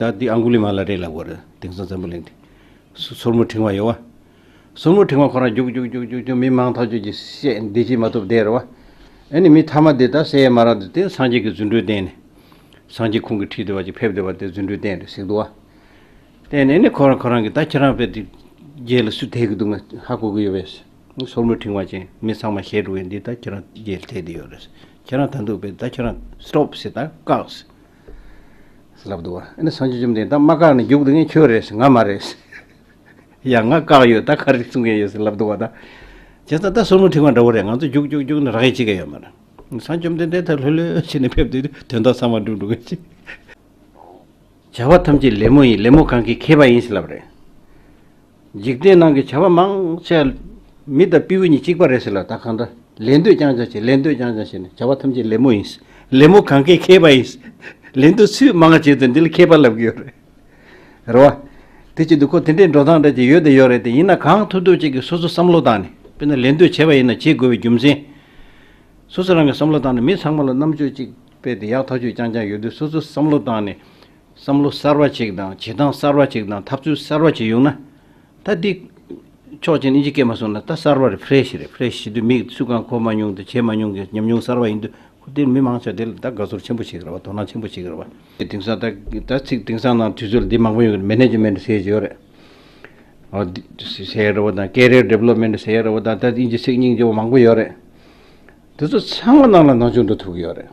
ད་དེ་ཨང་གུ་ལི་མ་ལ་རེ་ལ་དགོས་རེད་དེང་སང་འཛམ་བུ་གླིང་དེ། སོར་མོ་བྲིང་བ་ཡོད་བ། སོར་མོ་བྲིང་བ་ཁོ་རང་རྒྱུག་རྒྱུག་རྒྱུག་རྒྱུག་རྒྱུག་མི་མང་ཐག་གཅོད་ཀྱིས་བཤད་འདི་བྱེད་མ་ཐུབ་བསྡད་རེད་བ། ཨེ་ནི་མི་མཐའ་མ་དེ་ད་བསད་ཡས་མ་རག་དེ་དེ་སངས་རྒྱས་ཀྱི་རྫུན་འཕྲུལ་བསྟན་ནས། སངས་རྒྱས་ཁུང་གི་ཁྲིད་དེ་བ་ཅིག་ཕེབས་དེ་བ་དེ་རྫུན་འཕྲུལ་བསྟན་རེད་ཟེགས་འདུག་བ། བསྟན་ནས་ཨེ་ནི་ཁོ་རང་ཁོ་རང་གི་ད་ཁྱེད་རང་བས་དེ་རྒྱལ་ལ་སུས་ཐེག་གི་འདུག་ང་ཧ་གོ་གི་ཡོད་བས། སོར་མོ་བྲིང་བ་ཅན་མི་ཚང་མ་ཞལ་དྲུག་བས་འདི་ད་ཁྱེད་རང་རྒྱལ་ཐེག་དེ་ཡོད་རེད། ཁྱེད་རང་ད་འདུག་བས་ད་ཁྱེད་རང་སྟོབས་ཟེར་ད་བཀག་ཟེར། ལབ་འདུག་ཨ་ནི་སངས་རྒྱས་བཅོམ་ལྡན་འདས་མ་བཀག་ནས་རྒྱུག་འདུག་ངས་ཁྱོད་རེད་ཟེར་ང་མ་རེད་ཟེར། ཡང་ང་བཀག་ཡོད་ད་ག་རེ་གསུང་མཁན་ཡོད་ཟེར་ལབ་འདུག་བ་ད་བྱས་ཙང་ད་སོར་མོ་འཁྲིག་མ་འདྲ་བོ་རེད་ང་ཚོ་རྒྱུག་རྒྱུག་རྒྱུག་ནས་རག་ཡས་ཅིག་ག་ཡོད་མ་རེད། སངས་རྒྱས་བཅོམ་ལྡན་འདས་ད་ལྷོད་ལྷོད་བྱས་ནས་ཕེབས་དུས་དོན་དག་ཚང་མ་འགྲུབ་འགྲོ་གི་ཅིག། བྱ་བ་ཐམས་ཅད་ལེབ་མོ་ཡིན་ལེབ་མོ་གང་གིས་ཁེབས་པ་ཡིན་ཟེར་ལབ་རེད། འཇིག་རྟེན་ནང་གི་བྱ་བ་མང་ཆེ་བ་མི་དང་སྤེའུ་གཉིས་གཅིག་པ་རེད་ཟེར་ལ་ད་གང་འདྲ་ལེན་འདོད་རྐྱང་རྐྱང་བྱེད་ལེན་འདོད་རྐྱང་རྐྱང་བྱེད་ནས་བྱ་བ་ཐམས་ཅད་ལེབ་མོ་ཡིན། ལེབ་མོ་གང་གས་མཁས་པ་ཡིན། ལེན་འདོད་ཚུལ་མང་བྱས་ཚུལ་འདི་ལ་མཁས་པ་ལབ་གི་ཡོད་རེད། རེད་བ། དེ་ཕྱིར་དུ་ཁོ་དེ་འདྲའི་འགྲོ་སྟངས་འདྲ་ཅིག་ཡོད་དེ་ཡོད་རེད་དེ་ཡིན་ན་གང་ཐུབ་ཐུབ་ཅིག་གིས་སོ་སོ་བསམ་བློ་བཏང་ནས་དཔེར་ན་ལེན་འདོད་བྱེད་པ་ཡིན་ན་བྱེད་དགོས་པའི་རྒྱུ་མཚན། སོ་སོ་རང་གིས་བསམ་བློ་བཏང་ནས་མི་ཚང་མ་ལ་རྣམ་དཔྱོད་ཅིག་སྤེལ་ཏེ་ཡག་ཐག་ཆོད་རྐྱང་རྐྱང་ཡོད་དུས་སོ་སོས་བསམ་བློ་བཏང་ནས་བསམ་བློ་གསར་བ་ཅིག་དང་བྱེད་སྟངས་གསར་བ་ཅིག་དང་ཐབས་ཚུལ་གསར་བ་ཅིག་ཡོང་ན། ད་འདི། ཆོག་མཆན་ཨིན་ཇི་སྐད་མ་གསུང་ན་ད་གསར་བ་རེད Fresh རེད Fresh བྱེད་དུས་མིག་སུས་གང་འཁོར་མ་མྱོང་དང་བྱས་མ་མྱོང་གི་ཉམས་མྱོང་གསར་བ་ཡིན་དུས་ཁུ་དེར་མི་མང་ཆ་དེ་ལ་ད་དགའ་ཚོར་ཆེན་པོ་བྱེད་གི་རེད་བ་དོ་སྣང་ཆེན་པོ་བྱེད་གི་རེད་བ། དེང་སང་ད་ཚིག་དེང་སང་ནང་དུས་ཚོད་ལ་འདི་མང་པོ་ཡོང་གི་རེད Management ཟེར་ཡག་རེད། ཟེར་ཡག་རེད་བ་དང Career Development ཟེར་ཡག་རེད་བ་དང་ད་ཨིན་ཇི་ཚིག་རྙིང་ཇོ་བོ་མང་པོ་ཡོད་རེད། དེ་ཚོ་ཚང་མ་ནང་ལ་ནང་ཆུང་འགྲོ་ཐུབ་གི་ཡོད་རེད།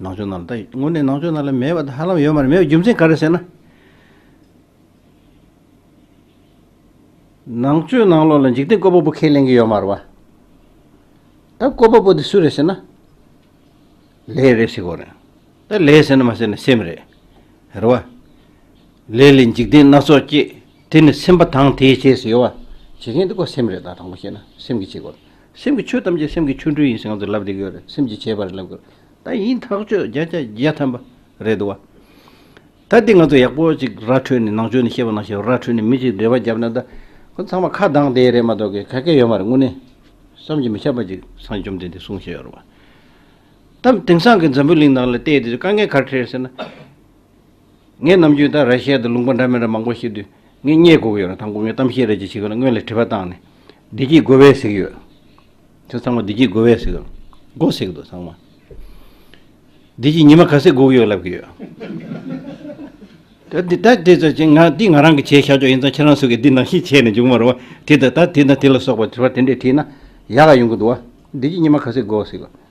ནང་ཆོས་རྣམས་ལ་ད་དངོས་གནས་ནང་ཆོས་རྣམས་ལ་མེད་པ་དང་ཧ་ལམ་ཡོད་མ་རེད་མེད་པའི་རྒྱུ་མཚན་ག་རེ་ཟེར་ན། ནང་ཆོས་ནང་ལོགས་ལ་འཇིག་རྟེན་བཀོད་པ་པོ་ཁས་ལེན་གྱི་ཡོད་མ་རེད་བ། ད་བཀོད་པ་པོ་དེ་སུ་རེད་ཟེར་ན། ལས་རེད་ཟེར་གོ་རེད། ད་ལས་ཟེར་ན་མ་ཟེར་ན་སེམས་རེད། རེད་བ། ལས་ལས་འཇིག་རྟེན་སྣ་ཚོགས་སྐྱེད། དེ་ནི་སེམས་པ་དང་དེས་བྱས་ཟེར་ཡོད་བ། བྱེད་མཁན་དེ་ཀོ་སེམས་རེད་ད་དང་པོ་བཤད་ན་སེམས་ཀྱིས་བྱེད་དགོས། སེམས་ཀྱི་ཆོས་ཐམས་ཅད་སེམས་ཀྱི་ཆོ་འཕྲུལ་ཡིན་ཞེས་ང་ཚོས་ལབ་བསྡད་ཀྱི་ཡོད་རེད་སེམས་ཀྱིས་བྱས་པ་རེད་ལབ་གི་རེད་ད་ཡིན་ཐག་ཆོད་བརྒྱ་ཆ་བརྒྱ་ཐམ་པ་རེད་འདུག་བ། ད་དེ་ང་ཚོ་ཡག་པོ་ཅིག་ར་འཕྲོད་ནས་ནང་ཆོས་ནས་བཤད་པ་ནང་བཤད་པ་ར་འཕྲོད་ནས་མི་ཞིག་འབྲེལ་བ་བརྒྱབ་ན་ད་ཁོ་ཚང་མ་ཁ་གདངས་བསྡད་རེད་མ་གཏོགས་གི་ག་གེ་ཡོད་མ་རེད་དངོས་གནས་བསམ་གྱི་མི་ཁྱབ་པ་ཅིག་སངས་བཅོམ་ལྡན་འདས་གསུངས་བཞིན་ཡོད་རེད་བ། ད་དེང་སང་གི་འཛམ་བུའི་གླིང་ནང་ལ་བལྟས་དེ་དཀའ་ངལ་གར་འཕྲད་ཟེར་ན། ངས་ནམ་རྒྱུན་ད་ར་ཤ་ཡ་དང་ལུང་པ་འདྲ་མི་འདྲ་མང་པོ་ཞིག་དུས་ངེས་ངེས་དགོས་ཀྱི་ཡོད་རུང་ད་མགོ་མི་གཏམ་ཤེས་རེས་ཀྱི་བྱེད་གི་ལ་སྔོན་ལས་དྲི་བ་བཏང་ནས། བདེ་སྐྱིད་དགོས་བས་ཟིག་ཡོད། ཁྱོད་ཚང་མ་བདེ་སྐྱིད་དགོས་བས་ཟིག་ཡོད། དགོ་ཟིག་འདུག་ཚང་མ། བདེ་སྐྱིད་ཉི་མ་ག་ཚོད་དགོས་ཀྱི་ཡོད་ལབ་ཀྱི་ཡོད། ད་ད་དེ་ཚོ་ཆེད་འདི་ང་རང་གི་བྱས་ཤ་ཅོག་ཡིན་ཙང་ཁྱེད་རང་སུ་གིས་འདི་ནང་བཞིན་བྱས་ནས་འཇུག་མ་རུང་བ་དེ་ད་ད་དེ་དང་དེ་ལ་སོགས་པ་དྲི་བ་དེ་འདྲས་དྲིས་ན་ཡག་ཡོང་གི་འདུག་བ། བདེ་སྐྱིད་ཉི་མ་ག་ཚོད་དགོས་ཟིག་ཡོད།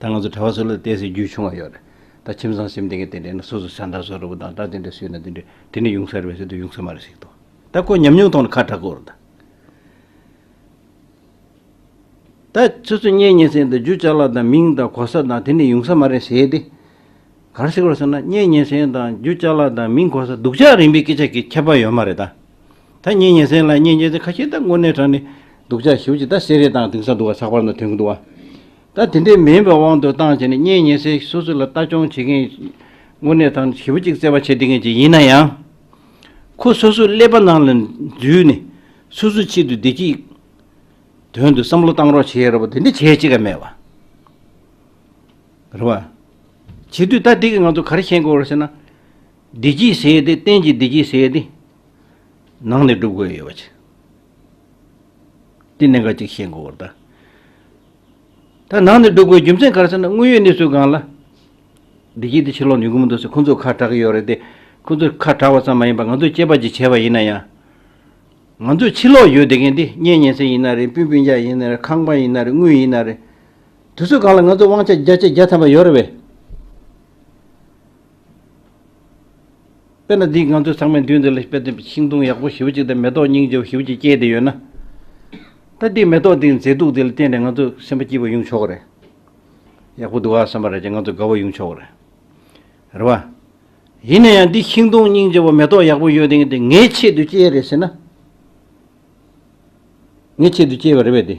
ད་ང་ཚོ་གྲྭ་བ་ཚོ་ལ་བལྟས་ཚེ་རྒྱུས་ཆུང་བ་ཡོད་རེད་ད་ཁྱིམ་ཚང་སེམས་སྟེང་གི་དེ་འདྲས་ན་སོ་སོ་ཆ་འདྲ་བཟོ་རུ་དང་སྐྲ་དེ་འདྲས་བསུས་ན་དེ་འདྲས་དེ་ནི་ཡུང་ས་རེད་བས་ཚོད་དུ་ཡུང་ས་མ་རེད་ཟིག་དོ་ད་ཁོ་ཉམས་མྱོང་ཐོག་ནས་ཁ་གྲག་གོ་རུ་དང། ད་ཚོད་ཚོད་བསྙད་བསྙད་ཚེ་འདི་རྒྱུ་ཅག་ལ་དང་མིང་དང་གོ་ས་དང་དེ་འདྲས་ཡུང་ས་མ་རེད་ཟེར་ཏེ། གང་ཞིག་ལ་ཟེར་ན་གཉེན་ཉེ་ཟན་དང་རྒྱུ་ལྕགས་ལ་དང་མིང་གོ་ས་སྡུག་ཅག་རིམ་པའི་སྐད་ཆ་གི་ཁྱད་པར་ཡོད་མ་རེད་ད། ད་གཉེན་ཉེ་ཟན་ལ་གཉེན་ཉེ་ཟན་ཁ་ཤས་ད་དངོས་གནས་དྲང་ནས་སྡུག་ཅག་ཞིབ་ཅིག་ད་བསེ་རེ་དང་དིང་ས་འདུག་བ་ཚགས་པར་ན་དོན་གི་འདུག་བ། ད་དེ་འདྲའི་མིན་པའི་དབང་དུ་བཏང་བྱས་ནས་གཉེན་ཉེ་ཟན་སོ་སོ་ལ་ལྟ་སྐྱོང་བྱེད་མཁན་དངོས་གནས་དྲང་ཞིབ་ཅིག་བརྩེ་བ་བྱེད་བདེ་མཁན་ཅིག་ཡིན་ན་ཡང། ཁོ་སོ་སོའི་ཀླད་པ་ནང་ལ་འཛུལ་ནས་སོ་སོའི་ཆེད་དུ་བདེ་སྐྱིད་དོན་དུ་བསམ་བློ་བཏང་རོགས་བྱེད་རོགས་པ་དེ་འདྲ་བྱེད་ཅིག་ག་མེད་བ། རེད་བ། བྱེད་དུས་ད་ལྟའི་གི་ང་ཚོ་གར་ཤེས་དགོས་རེད་ཟེར་ན། བདེ་སྐྱིད་ཟེར་ཡས་དེ་གཏན་གྱི་བདེ་སྐྱིད་ཟེར་ཡས་དེ། ནང་ནས་སྒྲུབ་དགོས་ཡོད་བ། དེ་གནད་འགག་ཅིག་ཤེས་དགོས་རེད། ད་ནང་ནས་སྒྲུབ་དགོས་རྒྱུ་མཚན་གར་ཟེར་ན་དངོས་ཡོད་གནས་ཚུལ་སྒང་ལ། བདེ་སྐྱིད་དེ་ཕྱིར་ལོག་ནུས་གི་མི་འདུག་ཟེར་ཁོང་ཚོས་ཁ་གྲག་གི་ཡོད་རེད་དེ། ཁོང་ཚོས་ཁ་གྲག་བ་ཙམ་མ་ཡིན་པར་ང་ཚོས་སྐྱེས་པ་གཅིག་བྱས་པ་ཡིན་ན་ཡང། ང་ཚོས་ཕྱིར་ལོག་ཡོད་བསྡད་མཁན་དེ་གཉེན་ཉེ་སེ་ཡིན་ན་རེད་སྤུན་སྤུན་རྒྱག་ཡིན་ན་རེད་ཁང་པ་ཡིན་ན་རེད་དངུལ་ཡིན་ན་རེད། དུས་ཚོད་གང་ལ་ང་ཚོས་དབང་ཆ་བརྒྱ་ཆའི་བརྒྱ་ཚན་པ་ཡོད་རེད་བས། དཔེར་ན་འདིས་ང་ཚོའི་ཚང་མའི་མདུན་དེ་ལ་དཔེ་སྟོན་པའི་ཤིང་སྡོང་ཡག་པོ་ཞིབ་གཅིག་དང་མེ་ཏོག་སྙིང་རྗེ་བོ་ཞིབ་གཅིག་སྐྱེས་དེ་ཡོད་ན། ད་དེའི་མེ་ཏོག་དེའི་མཛེས་སྡུག་དེ་ལ་བརྟེན་ནས་ང་ཚོ་སེམས་པ་སྐྱིད་པོ་ཡོང་ཆོག་གི་རེད། ཡག་པོ་འདུག་ཨ་བསམ་པ་རེད་ཅེས་ང་ཚོ་དགའ་བོ་ཡོང་ཆོག་གི་རེད། རེད་བ། ཡིན་ན་ཡང་འདིས་ཤིང་སྡོང་སྙིང་རྗེ་བོ་མེ་ཏོག་ཡག་པོ་ཡོད་དེ་ངའི་ཆེད་དུ་སྐྱེས་རེད་ཟེར་ན། ངའི་ཆེད་དུ་སྐྱེས་པ་རེད་བས་དེ།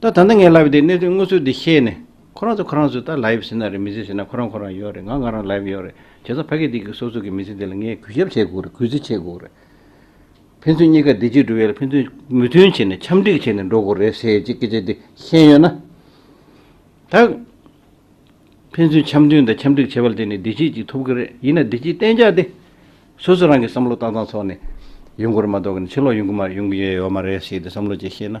ད་ད་ནི་ངའི་ལབ་ཡི་དེ་གནད་དོན་དངོས་ཚུལ་འདི་ཤེས་ནས་ཁོ་རང་ཚོ་ཁོ་རང་ཚོས་ད་ལབ་ཡི་ཟེར་ན་རེད་མི་ཟེར་ཟེར་ན་ཁོ་རང་ཁོ་རང་ཡོད་རེད་ང་ང་རང་ལབ་ཡི་ཡོད་རེད་བྱས་ཙང་ཕ་གི་སྡིག་གི་སོ་སོ་གི་མི་ཚེ་འདི་ལ་ངས་གུས་ཞབས་བྱེད་དགོས་རེད་གུས་བརྩི་བྱེད་དགོས་རེད། ཕན་ཚུན་གཉིས་ཀ་བདེ་སྐྱིད་འགྲོ་བའི་ལ་ཕན་ཚུན་མོས་མཐུན་བྱས་ནས་འཆམ་འགྲིག་བྱས་ནས་འགྲོ་དགོས་རེད་ཟེར་གྱི་སྐད་ཆ་འདི་ཤེས་ཡོད་ན། ད། ཕན་ཚུན་འཆམ་མཐུན་དང་འཆམ་འགྲིག་བྱས་པ་ལ་དེ་ནི་བདེ་སྐྱིད་ཅིག་ཐོབ་གི་རེད་ཡིན་ན་བདེ་སྐྱིད་གཏན་འཇགས་དེ། སོ་སོ་རང་གིས་བསམ་བློ་བཏང་ཙང་ཚོགས་ནས་ཡོང་དགོས་རེད་མ་གཏོགས་ནི་ཕྱིར་ལོག་ཡོང་གི་མ་ཡོང་གི་ཡོད་མ་རེད་ཟེར་ཏེ་བསམ་བློ་བཅས་ཤེས་ན་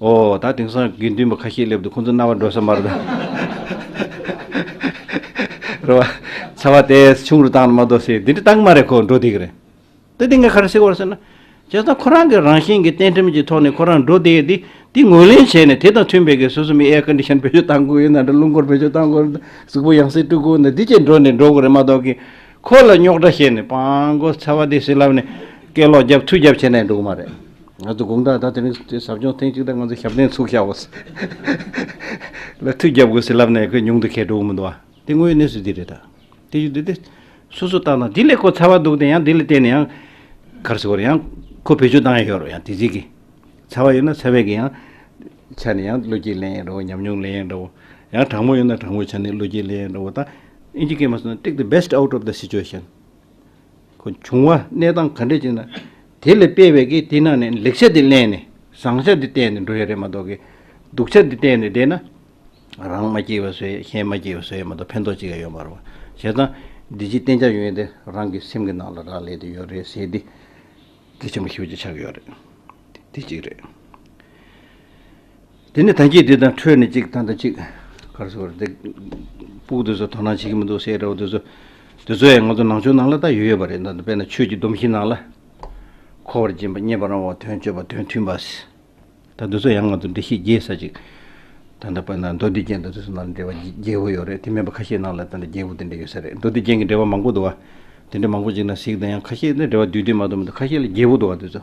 ཨོ། ད་དེང་སང་དགེ་འདུན་པ་ཁ་ཤས་སླེབས་འདུག་ཁོང་ཚོ་རྣ་བར་འགྲོ་ས་མ་རེད། རེད་བ། ཚ་བ་དེས་ཆུང་རུ་བཏང་ན་མ་གཏོགས་སེ་དེ་འདྲ་བཏང་གི་མ་རེད་ཁོ་འགྲོ་བསྡད་ཀྱི་རེད། ད་དེ་ངས་ག་རེ་ཟེར་བར་ཟེར་ན། བྱས་ཙང་ཁོ་རང་གི་རང་བཞིན་གྱི་གཏན་ཁྲིམས་ཀྱི་ཐོག་ནས་ཁོ་རང་འགྲོ་བསྡད་དེ་དེ་ངོས་ལེན་བྱས་ནས་དེ་དང་མཐུན་པའི་གི་སོ་སོ་མི་ཨེ་ཀན་དི་ཤན་བེད་སྤྱོད་བཏང་དགོས་ཡོད་ན་འདྲ་རླུང་འཁོར་བེད་སྤྱོད་བཏང་དགོས་ཡོད་ན་འདྲ་གཟུགས་པོ་ཡང་སེ་སྤྲུག་དགོས་ཡོད་ན་འདྲ་དེ་བཅས་འགྲོ་ནས་འགྲོ་གི་རེད་མ་གཏོགས་གི། ཁོ་ལ་རྙོག་དྲ་བཤད་ནས་སྤང་གོ་ཚ་བ་དེ་སེ་ལབ་ནས་སྐད་ལོག་རྒྱབ་ཐུག་རྒྱབ་བྱས་ནས་འགྲོ་གི་མ་རེད། ང་ཚོ་དགུང་གྲངས་ད་དེ་རིང་ཟབ་སྦྱོང་ཐེངས་གཅིག་དང་ང་ཚོ་ཞབས་བརྟན་ཚུགས་ཤག་བོ། ལ་ཐུགས་རྒྱབ་དགོས་ཟེར་ལབ་ནས་ཁོས་ཉུང་དུ་ཁས་དྲོ་འུ་མི་འདུག་ཨ། དེ་དངོས་གནས་སུ་དེ་རེད་ད། དེ་ཡུལ་དེ་དེ། སོ་སོ་ལྟ་ན་དེ་ལས་ཁོ་ཚ་བ་འདུག་དེ་ཡང་དེ་ལ་བརྟེན་ནས་ཡང། གར་སོ་རེད་ཡང། ཁོ་བེད་སྤྱོད་བཏང་ཡང་ཤོར་རོ་ཡང་དེ་རྗེས་ཀྱི། ཚ་བ་ཡོད་ན་ཚ་བས་ཀྱི་ཡང། ཆ་ནས་ཡང་བློ་སྐྱེད་ལེན་ཡང་འགྲོ་བོ་ཉམས་མྱོང་ལེན་ཡང་འགྲོ་བོ། ཡང་དྲང་མོ་ཡོད་ན་དྲང་མོ་ཆ་ནས་བློ་སྐྱེད་ལེན་ཡང་འགྲོ་བོ་ད། ཨིན་ཇི་སྐད་མ་སོང་ན take the best out of the situation། བྱུང་བ་གནས་སྟངས་ག་འདྲས་ཅིག་ན། དེ་ལས་སྤེལ་བའི་གི་དེ་ནང་ནས་ལེགས་ཆ་དེ་གླན་ནས་བཟང་ཆ་དེ་བསྟན་ནས་འགྲོ་ཡ་རེད་མ་གཏོགས་གི། སྡུག་ཆ་དེ་བསྟན་ནས་བསྡད་ན། རང་མ་སྐྱིད་བ་སུའི་གཞན་མ་སྐྱིད་བ་སུའི་མ་གཏོགས་ཕན་ཐོགས་ཅི་ག་ཡོད་མ་རུང། བྱས་ཙང་འདི་ཅིག་བསྟན་ཆ་ཡོད་དེ་རང་གི་སེམས་ཀྱི་ནང་ལ་རག་ལས་དེ་ཡོད་རེད་ཟེར་དེ། དེ་ཆེན་པོ་ཞིབ་ཅིག་ཆགས་ཡོད་རེད། དེ་གཅིག་རེད། དེ་ནས་ཐང་སྐྱིད་དེ་དང་འཕྲོས་ནས་གཅིག་ཐང་དང་གཅིག་གར་སོང་བར་འདེགས། སྤུག་དེ་ཚོ་དོ་སྣང་བྱེད་ཀྱི་མི་འདུག་ཟེར་ཡ་འདྲ་བོ་དེ་ཚོ། དེ་ཚོ་ཡང་ང་ཚོ་ནང་ཆོས་ནང་ལ་ད་ཡོད་ཡོད་པ་རེད་ད་དཔེར་ན་ཆོས་ཀྱི་སྡོམ་གཞི་ནང་ལ། འཁོར་བར་སྦྱིན་པ་མཉེས་པ་རང་དབང་དོན་སྤྱོད་པ་དོན་མཐུན་པ། ད་དེ་ཚོ་ཡང་ང་ཚོ་འདྲི་ཤེས་རྒྱས་ས་ཅིག། ད་ད་དཔེར་ན་མདོ་སྡེ་ཅན་ད་དེ་ཚོ་ནང་ལ་འབྲེལ་བ་རྒྱས་པོ་ཡོད་རེད་དེ་མེད་པ་ཁ་ཤས་ནང་ལ་ད་འབྲེལ་རྒྱས་པོ་དེ་འདྲ་ཡོད་ས་རེད་མདོ་སྡེ་ཅན་གྱི་འབྲེལ་བ་མང་པོ་འདུག་བ། དེ་འདྲ་མང་པོ་ཅིག་ན་གཟིགས་དང་ཡང་ཁ་ཤས་ནི་འབྲེལ་བ་དུས་དུས་མ་གཏོགས་མི་འདུག་ཁ་ཤས་ལ་རྒྱས་པོ་འདུག་བ་དེ་ཚོ།